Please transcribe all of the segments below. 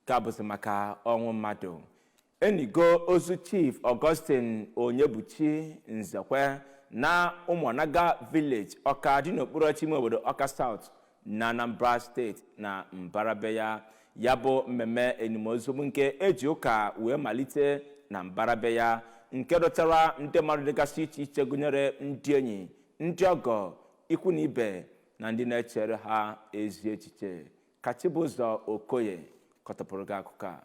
ka bụzi maka ọnwụ mmadụ e nigo ozu chief Augustine Onyebuchi Nzekwe na ụmụnaga village ọka dị n'okpuru ọchịchị ime obodo ọka South na Anambra steeti na mbara be ya ya bụ mmemme enim ozu bụ nke e ji ụka wee malite na mbara be ya nke dọtara ndị mmadụ dịgasị iche iche gụnyere ndị enyi ndị ọgọ ikwu na ibe na ndị na-echere ha ezi echiche Ka Chibụzọ Okoye kọtọpụrụ gị akụkọ a.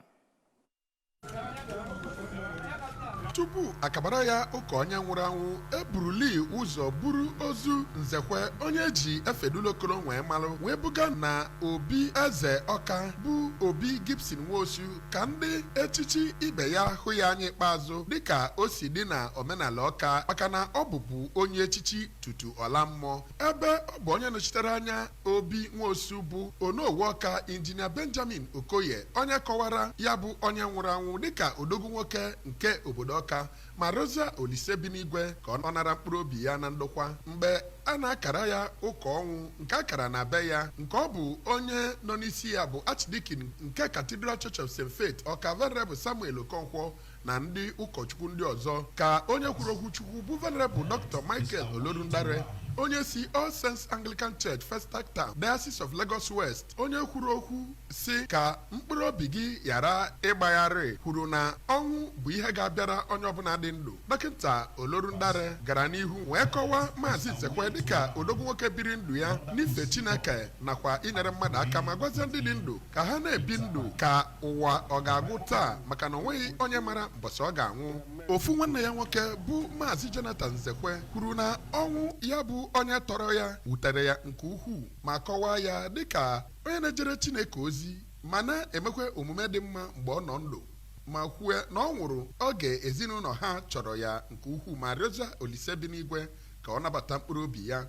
tupu a kabara ya ụka onye nwụrụ anwụ e buruli ụzọ buru ozu nzekwe onye e ji efedulokolo wee malụ wee buga na obi eze ọka bụ obi gibson nwosu ka ndị echichi ibe ya hụ ya anya ikpeazụ dịka o si dị na omenala ọka maka na ọ bụbu onye echichi tutu ọ laa mmụọ ebe ọ bụ onye nọchitere anya Obi Nwosu bụ Onowu Ọka Injinia Benjamin Okoye onye kọwara ya bụ onye nwụrụ anwụ dịka odogwu nwoke nke obodo Ọka ma rịọzịa Olise bi n'igwe ka ọ nara mkpụrụ obi ya na ndokwa mgbe a na-akara ya ụka ọnwụ nke a kara na be ya nke ọ bụ onye nọ n'isi ya bụ Archdeacon nke Cathedral Church of St. Faith Ọka Venerable Samuel Okonkwo na ndị ụkọchukwu ndị ọzọ ka onye kwuru okwu chukwu bụ venerable dr michael olorundare onye si all saints anglican church festac town diocese of lagos west onye kwuru okwu sị ka mkpụrụ obi gị ghara ịgbagharị kwuru na ọnwụ bụ ihe ga-abịara onye ọbụla dị ndụ dọkịta olorundare gara n'ihu wee kọwaa maazị nzekwe dịka odogwu nwoke biri ndụ ya n'ife chineke nakwa inyere mmadụ aka ma gwazie ndị dị ndụ ka ha na-ebi ndụ ka ụwa ọ ga-agwụ taa maka na o nweghị onye mara mbọsị ọ ga-anwụ ofu nwanne ya nwoke bụ maazị Jonathan Nzekwe kwuru na ọnwụ ya bụ onye tọrọ ya wutere ya nke ukwuu ma kọwaa ya dịka onye na-ejere Chineke ozi ma na-emekwa omume dị mma mgbe ọ nọ ndụ ma kwue na ọ nwụrụ oge ezinụlọ ha chọrọ ya nke ukwuu ma rịọzịa Olise bi n'igwe ka ọ nabata mkpụrụ obi ya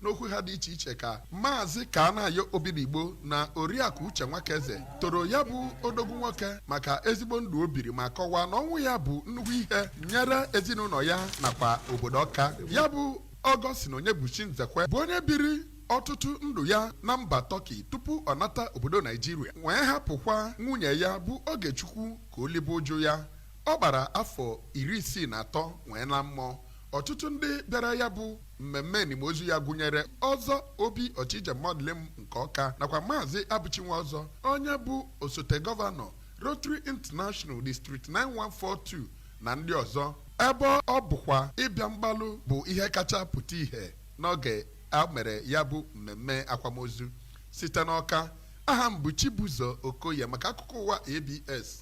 N'okwu ha dị iche iche ka Maazị Kanayo Obidigbo na Oriakụ Uche Nwakaeze toro ya bụ odogwu nwoke maka ezigbo ndụ o biri ma kọwaa na ọnwụ ya bụ nnukwu ihe nyere ezinụlọ ya nakwa obodo Ọka. Ya bụ Ọgọstin Onyebuchi Nzekwe bụ onye biri ọtụtụ ndụ ya na mba Tọki tupu ọ nata obodo Naijiria wee hapụkwa nwunye ya bụ Ogechukwu ka o libe uju ya. Ọ gbara afọ iri isii na atọ wee laa mmụọ. Ọtụtụ ndị bịara ya bụ mmemme enimozu ya gụnyere ọzọ obi ọchịje mọdịlịm nke ọka nakwa maazị abụchi nwọzọ onye bụ osote gọvanọ rotary international district 9142 na ndị ọzọ ebe ọ bụkwa ịbịa mgbalụ bụ ihe kacha pụta ihe n'oge a mere ya bụ mmemme akwamozu site n'ọka aha m bụ chibụzọ okoye maka akụkọ ụwa abs